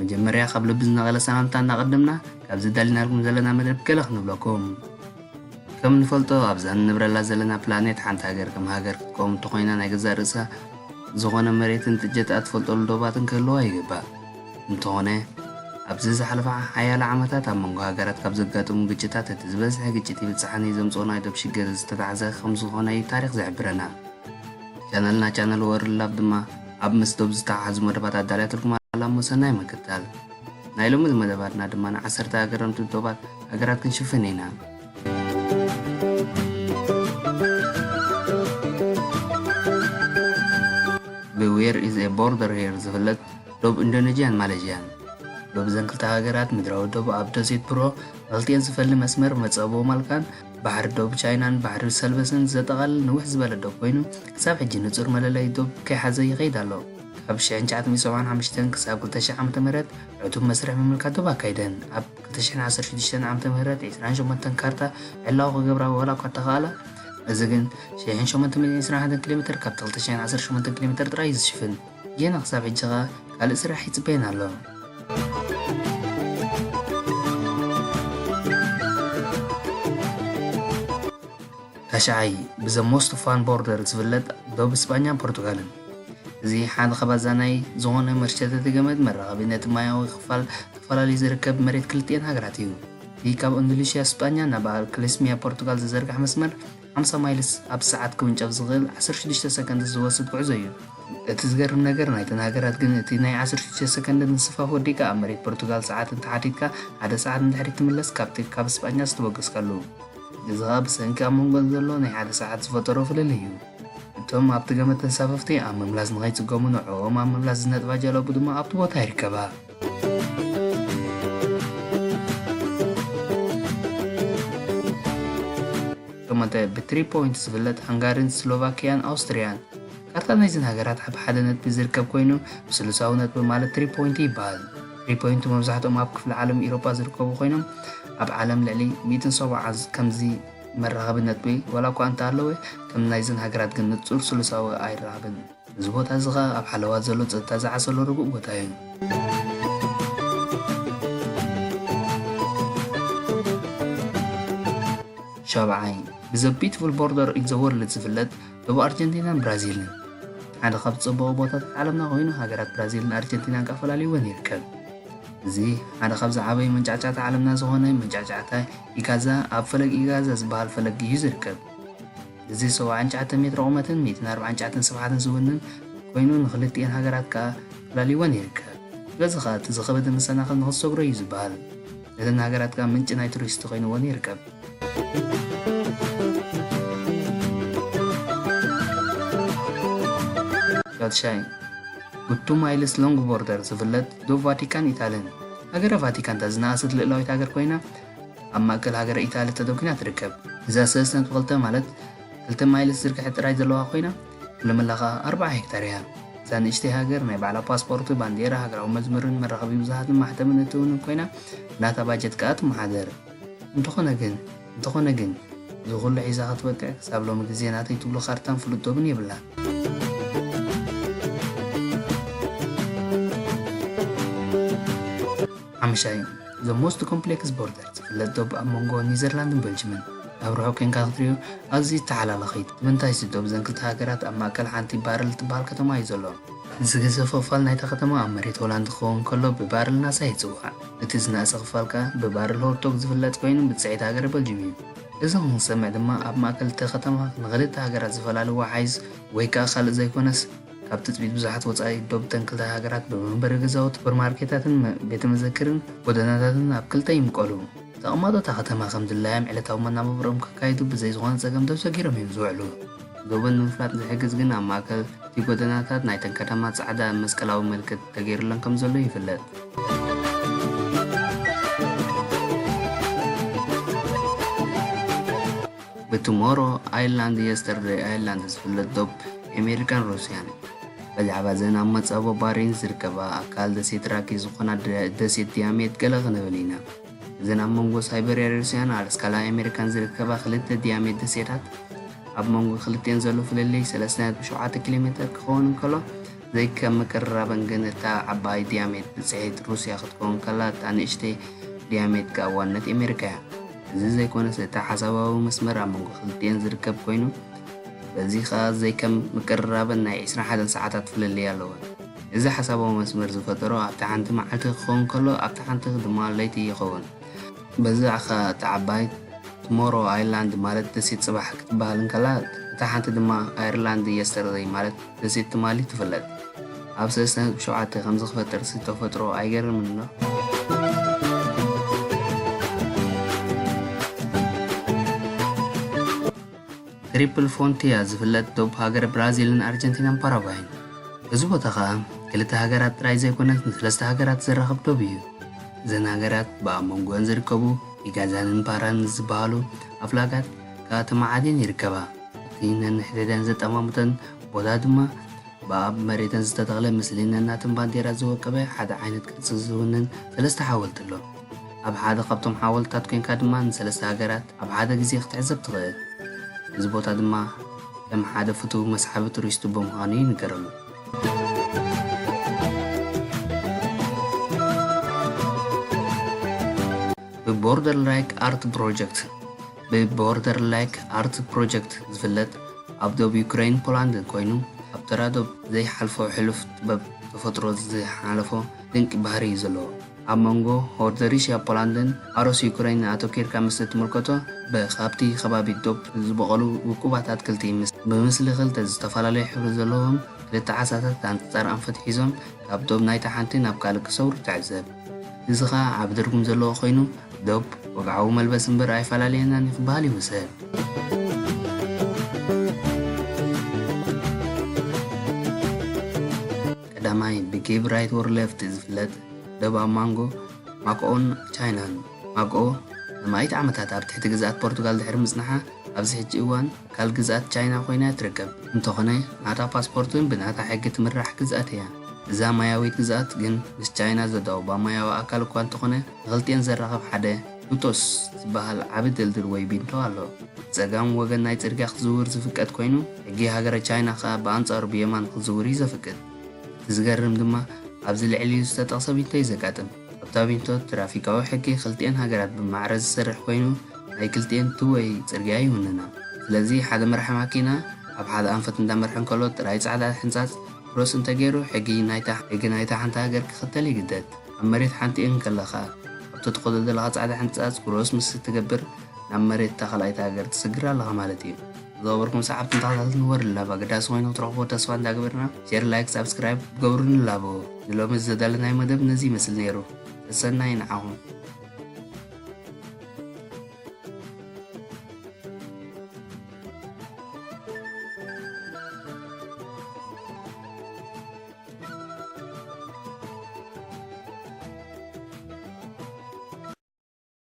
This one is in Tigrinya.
መጀመርያ ካብ ልቢ ዝነቐለ ሰላምታ እናቐደምና ካብዚ ኣዳሊናልኩም ዘለና መደብ ገለ ክንብለኩም ከም ንፈልጦ ኣብዛ ንነብረላ ዘለና ፕላኔት ሓንቲ ሃገር ከም ሃገር ክትቀውም እንተኾይና ናይ ገዛእ ርእሳ ዝኾነ መሬትን ጥጀታ እትፈልጠሉ ዶባትን ክህልዋ ይግባእ እንተኾነ ኣብዚ ዝሓለፈ ሓያለ ዓመታት ኣብ መንጎ ሃገራት ካብ ዘጋጥሙ ግጭታት እቲ ዝበዝሐ ግጭት ይብፅሓኒ ዘምፅኦ ናይ ዶብ ሽግር ዝተታሕዘ ከም ዝኾነ እዩ ታሪክ ዝሕብረና ቻነልና ቻነል ወርልድ ላብ ድማ ኣብ ምስ ዶብ ዝተሓሓዙ መደባት ኣዳልያትልኩም ኣላሞ ሰናይ ምክታል። ናይ ሎሚ መደባትና ድማ ንዓሰርተ ኣገረምቲ ዶባት ሃገራት ክንሽፍን ኢና። ብዌር ኢዝ ኤ ቦርደር ሄር ዝፍለጥ ዶብ ኢንዶኔዥያን ማሌዥያን ዶብ እዘን ክልተ ሃገራት ምድራዊ ዶብ ኣብ ደሴት ፕሮ መልቲኤን ዝፈሊ መስመር መጸቦ ማልካን ባሕሪ ዶብ ቻይናን ባሕሪ ሰልበስን ዘጠቓልል ንውሕ ዝበለ ዶብ ኮይኑ፣ ክሳብ ሕጂ ንጹር መለለዪ ዶብ ከይሓዘ ይኸይድ ኣሎ። ካብ ሽሕን ትሽዓተ ሚእትን ሰብዓን ሓሙሽተን ክሳብ ክልተ ሽሕ ዓመተ ምህረት ዕቱብ መስርሕ ምምልካት ዶብ ኣካይደን። ኣብ ክልተ ሽሕን ዓሰርተ ሽዱሽተን ዓመተ ምህረት ዕስራን ሸሞንተን ካርታ ዕላዊ ክገብራ ዋላ'ኳ እተኻእላ፣ እዚ ግን ሽሕን ሸሞንተ ሚእትን ዕስራን ሓደን ኪሎሜተር ካብቲ ክልተ ሽሕን ዓሰርተ ሸሞንተን ኪሎሜተር ጥራይ እዩ ዝሽፍን። ጌና ክሳብ ሕጂ ከኣ ካልእ ስራሕ ይጽበየና ኣሎ። ታሽዓይ ብዘ ሞስት ፋን ቦርደር ዝፍለጥ ዶብ ስጳኛን ፖርቱጋልን እዚ ሓደ ካብ ኣዛናይ ዝኾነ መርሸተቲ ገመድ መራኸቢ ነቲ ማያዊ ክፋል ተፈላለዩ ዝርከብ መሬት ክልቲኤን ሃገራት እዩ። እቲ ካብ ኢንዶኔሽያ ስጳኛ ናብ ክሌስሚያ ፖርቱጋል ዝዘርጋሕ መስመር ሓምሳ ማይልስ ኣብ ሰዓት ክውንጨፍ ዝኽእል ዓሰርተ ሽዱሽተ ሰከንድስ ዝወስድ ጉዕዞ እዩ። እቲ ዝገርም ነገር ናይተን ሃገራት ግን እቲ ናይ ዓሰርተ ሽዱሽተ ሰከንድ ምስፋፍ ወዲእካ ኣብ መሬት ፖርቱጋል ሰዓት እንተሓቲትካ ሓደ ሰዓት ንድሕሪት ትምለስ ካብቲ ካብ ስጳኛ ዝተበገስካሉ። እዚ ኸኣ ብሰንኪ ኣብ መንጎን ዘሎ ናይ ሓደ ሰዓት ዝፈጠሮ ፍልልይ እዩ። እቶም ኣብቲ ገመድ ተንሳፈፍቲ ኣብ ምምላስ ንኸይጽገሙ ንዕኦም ኣብ ምምላስ ዝነጥፋ ጃላቡ ድማ ኣብቲ ቦታ ይርከባ። ሸሞንተ፣ ብትሪ ፖይንት ዝፍለጥ ሃንጋሪን ስሎቫክያን ኣውስትርያን። ካርታ ናይዘን ሃገራት ኣብ ሓደ ነጥቢ ዝርከብ ኮይኑ ብስሉሳዊ ነጥቢ ማለት ትሪ ፖይንት ይበሃል። ትሪ ፖይንት መብዛሕትኦም ኣብ ክፍለ ዓለም ኢሮፓ ዝርከቡ ኮይኖም ኣብ ዓለም ልዕሊ ሚእትን ሰብዓን ከምዚ መራኸቢ ነጥቢ ዋላ እኳ እንተሃለወ ከም ናይዘን ሃገራት ግን ንጹር ስሉሳዊ ኣይራኸብን። እዚ ቦታ እዚ ከኣ ኣብ ሓለዋ ዘሎ ጸጥታ ዝዓሰሎ ርጉእ ቦታ እዩ። ሻብዓይ፣ ብዘ ቢትፉል ቦርደር ኦን ዘ ወርልድ ዝፍለጥ ዶብ ኣርጀንቲናን ብራዚልን ሓደ ካብ ዝጸበቑ ቦታታት ዓለምና ኮይኑ ሃገራት ብራዚልን ኣርጀንቲናን ከኣ ፈላልይወን ይርከብ። እዚ ሓደ ካብ ዝዓበዩ መንጫዕጫዕታ ዓለምና ዝኾነ መንጫዕጫዕታ ኢጋዛ ኣብ ፈለግ ኢጋዛ ዝበሃል ፈለግ እዩ ዝርከብ። እዚ ሰውዓን ትሽዓተን ሜትሮ ቁመትን ሚእትን ኣርብዓን ትሽዓተን ስፍሓትን ዝውንን ኮይኑ ንኽልቲኤን ሃገራት ከኣ ፈላልይወን ይርከብ። ስለዚ ከኣ እቲ ዝኸበደ መሰናኽል ንኽትሰግሮ እዩ ዝበሃል። ነተን ሃገራት ከኣ ምንጪ ናይ ቱሪስቲ ኮይንወን ይርከብ። ሻትሻይን ብ ቱ ማይልስ ሎንግ ቦርደር ዝፍለጥ ዶብ ቫቲካን ኢታልን ሃገረ ቫቲካን እታ ዝነኣሰት ልእላዊት ሃገር ኮይና፣ ኣብ ማእከል ሃገረ ኢታሊ ተደኲና ትርከብ። እዛ ሰለስተ ነጥቢ ክልተ ማለት ክልተ ማይልስ ዝርግሐት ጥራይ ዘለዋ ኮይና ኩለመላ ከኣ ኣርብዓ ሄክታር እያ። እዛ ንእሽተይ ሃገር ናይ ባዕላ ፓስፖርት፣ ባንዴራ፣ ሃገራዊ መዝሙርን መራኸቢ ብዙሃትን ማሕተምን እትውንን ኮይና ብናታ ባጀት ከኣ ትመሓደር። እንተኾነ ግን እንተኾነ ግን እዚ ኩሉ ሒዛ ክትበቅዕ ክሳብ ሎሚ ግዜ ናተይ ትብሎ ካርታን ፍሉጥ ዶብን የብላን። ሓሙሻይ፣ The Most Complex Border፣ ዝፍለጥ ዶብ ኣብ መንጎ ኒዘርላንድን በልጅምን። ኣብ ርሑቕ ኴንካ ክትሪኦ ኣዝዩ ተሓላላኺ እዩ። ንምንታይ? እዚ ዶብ እዘን ክልተ ሃገራት ኣብ ማእከል ሓንቲ ባረል እትበሃል ከተማ እዩ ዘሎ። ዝገዘፈ ክፋል ናይታ ከተማ ኣብ መሬት ሆላንድ ክኸውን ከሎ ብባረል ናሳ ይጽዋዕ። እቲ ዝነኣሰ ክፋል ከኣ ብባረል ሆርቶግ ዝፍለጥ ኮይኑ ብጽሒት ሃገረ በልጅም እዩ። እዚ ክንሰምዕ ድማ ኣብ ማእከል እታ ከተማ ንኽልተ ሃገራት ዝፈላሊ ወሓይዝ ወይ ከኣ ካልእ ዘይኮነስ፣ ካብ ትጽቢት ብዙሓት ወጻኢ ዶብ እተን ክልተ ሃገራት ብመንበሪ ገዛውቲ፣ ሱፐርማርኬታትን ቤተ መዘክርን ጎደናታትን ኣብ ክልተ ይምቀሉ። ተቐማጦ እታ ከተማ ከም ድላዮም ዕለታዊ መናባብሮኦም ከካይዱ ብዘይ ዝኾነ ጸገም ዶብ ሰጊሮም እዮም ዝውዕሉ። ዶበን ንምፍላጥ ዝሕግዝ ግን ኣብ ማእከል እቲ ጎደናታት ናይተን ከተማ ጻዕዳ መስቀላዊ ምልክት ተገይሩለን ከም ዘሎ ይፍለጥ። ብቱሞሮ ኣይላንድ የስተርደይ ኣይላንድ ዝፍለጥ ዶብ ኣሜሪካን ሩስያን እዩ። ብዛዕባ እዘን ኣብ መጻቦ ባሪንስ ዝርከባ ኣካል ደሴት ራኪ ዝኾና ደሴት ዲያሜት ገለ ክንብል ኢና። እዘን ኣብ መንጎ ሳይበርያ ሩስያን ኣላስካን ኣሜሪካን ዝርከባ ክልተ ዲያሜት ደሴታት ኣብ መንጎ ክልቲኤን ዘሎ ፍልልይ ሰለስተ ነጥቢ ሸውዓተ ኪሎ ሜተር ክኸውን እንከሎ ዘይከም ምቅርራበን ግን እታ ዓባይ ዲያሜት ብጽሒት ሩስያ ክትከውን ከላ እታ ንእሽተይ ዲያሜት ከኣ ዋነት ኣሜሪካ እያ። እዚ ዘይኮነስ እቲ ሓሳባዊ መስመር ኣብ መንጎ ክልቲኤን ዝርከብ ኮይኑ በዚ ከኣ ዘይከም ምቅርራበን ናይ ዕስራን ሓደን ሰዓታት ፍልልይ ኣለወን። እዚ ሓሳባዊ መስመር ዝፈጠሮ ኣብቲ ሓንቲ መዓልቲ ክኸውን ከሎ ኣብቲ ሓንቲ ድማ ለይቲ ይኸውን። በዚ ከኣ እታ ዓባይ ቱሞሮ ኣይላንድ ማለት ደሴት ጽባሕ ክትበሃል እንከላ እታ ሓንቲ ድማ ኣይርላንድ የስተርደይ ማለት ደሴት ትማሊ ትፍለጥ ኣብ ሰለስተ ነጥቢ ሸውዓተ ከምዚ ክፈጥርሲ ተፈጥሮ ኣይገርምን ዶ። ትሪፕል ፎንቲያ ዝፍለጥ ዶብ ሃገረ ብራዚልን ኣርጀንቲናን ፓራጓይን እዚ ቦታ ከኣ ክልተ ሃገራት ጥራይ ዘይኮነት ንሰለስተ ሃገራት ዘራኽብ ዶብ እዩ። እዘን ሃገራት ብኣብ መንጎኣን ዝርከቡ ኢጋዛንን ፓራን ዝበሃሉ ኣፍላጋት ከኣ ተመዓዲየን ይርከባ። እቲ ነንሕድሕደን ዘጠማምተን ቦታ ድማ ብኣብ መሬተን ዝተተኽለ ምስሊ ነናተን ባንዴራ ዝወቀበ ሓደ ዓይነት ቅርጺ ዝውንን ሰለስተ ሓወልቲ ኣሎ። ኣብ ሓደ ካብቶም ሓወልትታት ኮይንካ ድማ ንሰለስተ ሃገራት ኣብ ሓደ ግዜ ክትዕዘብ ትኽእል። እዚ ቦታ ድማ ከም ሓደ ፍቱው መስሓቢ ቱሪስቱ ብምዃኑ ይንገረሉ። ብቦርደርላይክ ኣርት ፕሮጀክት። ብ Border Lake Art Project ዝፍለጥ ኣብ ዶብ ዩክረይን ፖላንድን ኮይኑ ኣብ ተራ ዶብ ዘይሓልፎ ሕሉፍ ጥበብ ተፈጥሮ ዝሓለፎ ድንቂ ባህሪ እዩ ዘለዎ ኣብ መንጎ ሆርደሪሽያ ፖላንድን ኣሮስ ዩክረይንን ኣተኪርካ ምስ እትምልከቶ ብ ካብቲ ከባቢ ዶብ ዝበቐሉ ውቁባት ኣትክልቲ ምስ ብምስሊ ክልተ ዝተፈላለዩ ሕብሪ ዘለዎም ክልተ ዓሳታት ኣንጻር ኣንፈት ሒዞም ካብ ዶብ ናይታ ሓንቲ ናብ ካልእ ክሰግሩ ትዕዘብ። እዚ ከኣ ዓቢ ትርጉም ዘለዎ ኮይኑ ዶብ ወግዓዊ መልበሲ እምበር ኣይፈላለየናን እዩ ክበሃል ይውሰድ። ቀዳማይ ብጌብ ራይት ኦር ሌፍት ዝፍለጥ ዶብ ኣብ ማንጎ ማክኦን ቻይናን ማግኦ ንማኢት ዓመታት ኣብ ትሕቲ ግዝኣት ፖርቱጋል ድሕሪ ምጽንሓ ኣብዚ ሕጂ እዋን ኣካል ግዝኣት ቻይና ኮይና እያ ትርከብ። እንተኾነ ናታ ፓስፖርት ውን ብናታ ሕጊ ትምራሕ ግዝኣት እያ። እዛ ማያዊት ግዝኣት ግን ምስ ቻይና ዘዳውባ ማያዊ ኣካል እኳ እንተኾነ ንኽልቲኤን ዘራኽብ ሓደ ኑቶስ ዝበሃል ዓቢ ድልድል ወይ ቢንቶ ኣሎ። ብጸጋም ወገን ናይ ጽርግያ ክትዝውር ዝፍቀድ ኮይኑ ሕጊ ሃገረ ቻይና ከኣ ብኣንጻሩ ብየማን ክትዝውር እዩ ዘፍቅድ። እቲ ዝገርም ድማ ኣብዚ ልዕሊኡ ዝተጠቕሰ ቢንቶ እዩ ዘጋጥም። ኣብታ ቢንቶ ትራፊካዊ ሕጊ ክልቲኤን ሃገራት ብማዕረ ዝሰርሕ ኮይኑ ናይ ክልቲኤን ቱ ወይ ጽርግያ ይውንና ስለዚ ሓደ መራሒ ማኪና ኣብ ሓደ ኣንፈት እንዳመርሐ እንከሎ ጥራይ ጻዕዳ ሕንጻጽ ክሮስ እንተገይሩ ሕጊ ናይታ ሕጊ ናይታ ሓንቲ ሃገር ክኽተል ይግደድ ኣብ መሬት ሓንቲ እንከለኻ ኣብ ተትኾዶ ዘለኻ ጻዕዳ ሕንጻጽ ክሮስ ምስ እትገብር ናብ መሬት እታ ካልኣይቲ ሃገር ትስግር ኣለኻ ማለት እዩ። ዝገበርኩም ሰዓብትን ተኸታተልትን ወሪ ንላብ ኣገዳሲ ኮይኑ ክትረኽቦ ተስፋ እንዳገበርና ሼር ላይክ ሳብስክራይብ ክትገብሩ ንላቦ ንሎሚ ዝተዳለናዮ መደብ ነዚ ይመስል ነይሩ ሰሰናይ ንዓኹም